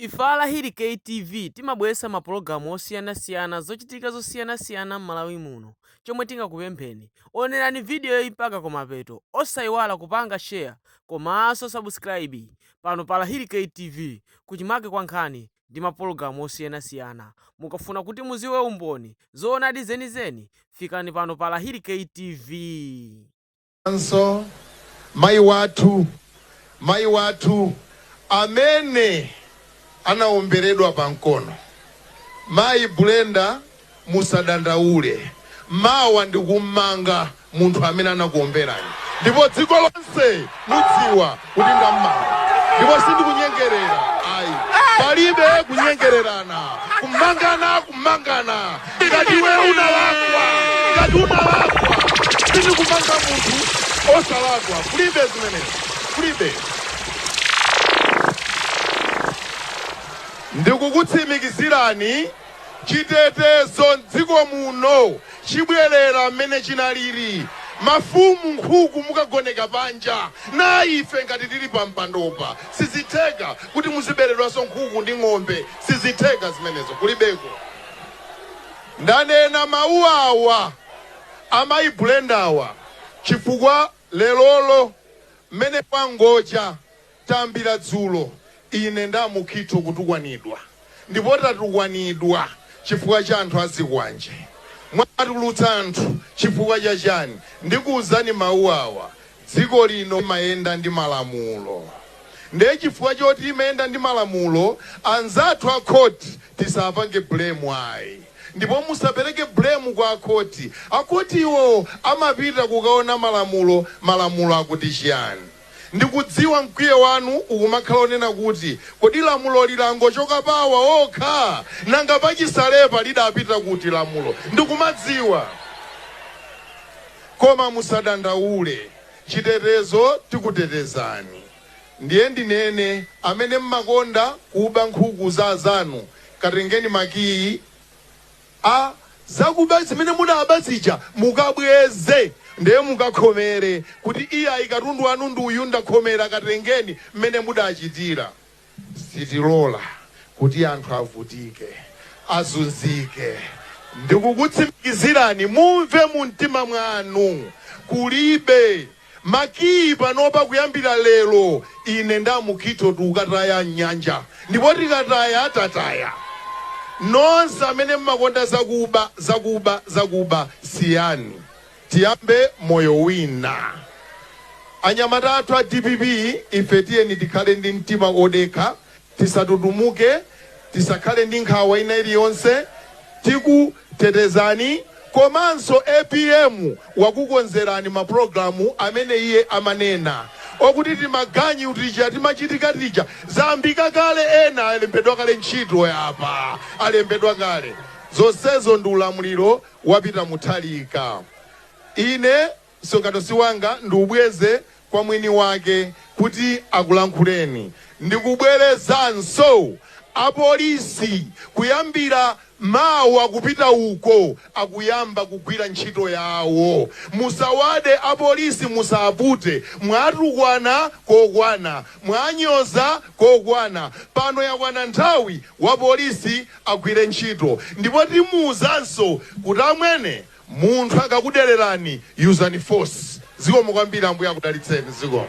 Ife a Lahiri Kay TV timabweresa ma pologalamu osiyana siyana zochitika zosiyana siyana mmalawi muno chomwe tingakupempheni onerani video yi mpaka kumapeto osaiwala kupanga share komanso subscribe pano pa Lahiri Kay TV kuchimake kwa nkhani ndi ma pologalamu osiyana siyana mukafuna kuti muziwe umboni zoonadi zeni zeni fikani pano pa Lahiri Kay TV. anso mayi wathu, mayi wathu amene anawomberedwa pa mkono. Mayi Brenda, musadandaule, mawa ndikum'manga munthu amene anakuwomberani ndipo dziko lonse mudziwa. kuti ndammanga ndipo sindikunyengerera ayi palibe kunyengererana kumangana kumangana ngati iwe unalakwa ngati unalakwa sindikumanga munthu osalakwa kulibe zimenezi kulibe ndikukutsimikizirani Chitetezo m'dziko muno chibwelera mmene chinaliri. Mafumu nkhuku mukagoneka panja na ife ngati tili pampandopa sizitheka kuti muziberedwaso nkhuku ndi ng'ombe sizitheka zimenezo kulibeko. Ndanena mawu awa amayi Brendawa chifukwa lerolo mmene pangocha. Tayambira dzulo ine ndi a Mukhitho kutukwanidwa ndipo tatukwanidwa chifukwa cha anthu a zikwanje. Mwaatulutsa anthu chifukwa cha chani? Ndikuuzani mawu awa, dziko lino imayenda ndi malamulo nde chifukwa choti imayenda ndi malamulo anzathu a khoti tisaapange blame ayi ndipo musapereke blame kwa a khoti. A khoti iwo amapita kukaona malamulo, malamulo akuti chiyani. Ndikudziwa mkwiyo wanu ukumakhala onena kuti, Kodi lamuloli langotsoka pa awa okha? Nanga pachisalepa lidapita kuti lamulo? Ndikumadziwa. Koma musadandaule, chitetezo tikutetezani. Ndiye ndinene, amene mmakonda kuba nkhuku za azanu, katengeni makiyi. a zakuba zimene munaba zija mukabweze nde mukakhomere kuti iyayi katundu wanu ndi uyu ndakhomera katengeni mmene mudachitira. Sitilola kuti anthu avutike, azunzike. Ndikukutsimikizirani mumve mumtima mwanu kulibe. Makiyi panopa kuyambira lero ine nda Mukhitho tukataya m'nyanja ndipo tikataya tataya. Nonse amene mmakonda zakuba, zakuba, zakuba siyani tiyambe moyo wina. Anyamata athu a dpp ife tiyeni tikhale ndi mtima odekha Tisatutumuke, tisakhale ndi nkhawa ina iliyonse, tikutetezani komanso apm wakukonzerani ma program amene iye amanena okuti timaganyu tija, timachitika tija zayambika kale ena alembedwa kale ntchito yapa alembedwa kale zonsezo ndi ulamuliro wa Peter Mutharika. Ine. Msonkhano si wanga, ndiubweze kwa mwini wake kuti akulankhuleni. Ndikubwerezanso, apolisi kuyambira mawa kupita uko akuyamba kugwira ntchito yawo. Musawade apolisi, musapute. Mwatukwana kokwana, mwanyoza kokwana, pano yakwana nthawi wapolisi agwire ntchito ndipo timuwuzanso kuti amwene, Munthu akakudelerani yuzani force. Zikomo kwambiri ambuye akudalitseni zikomo.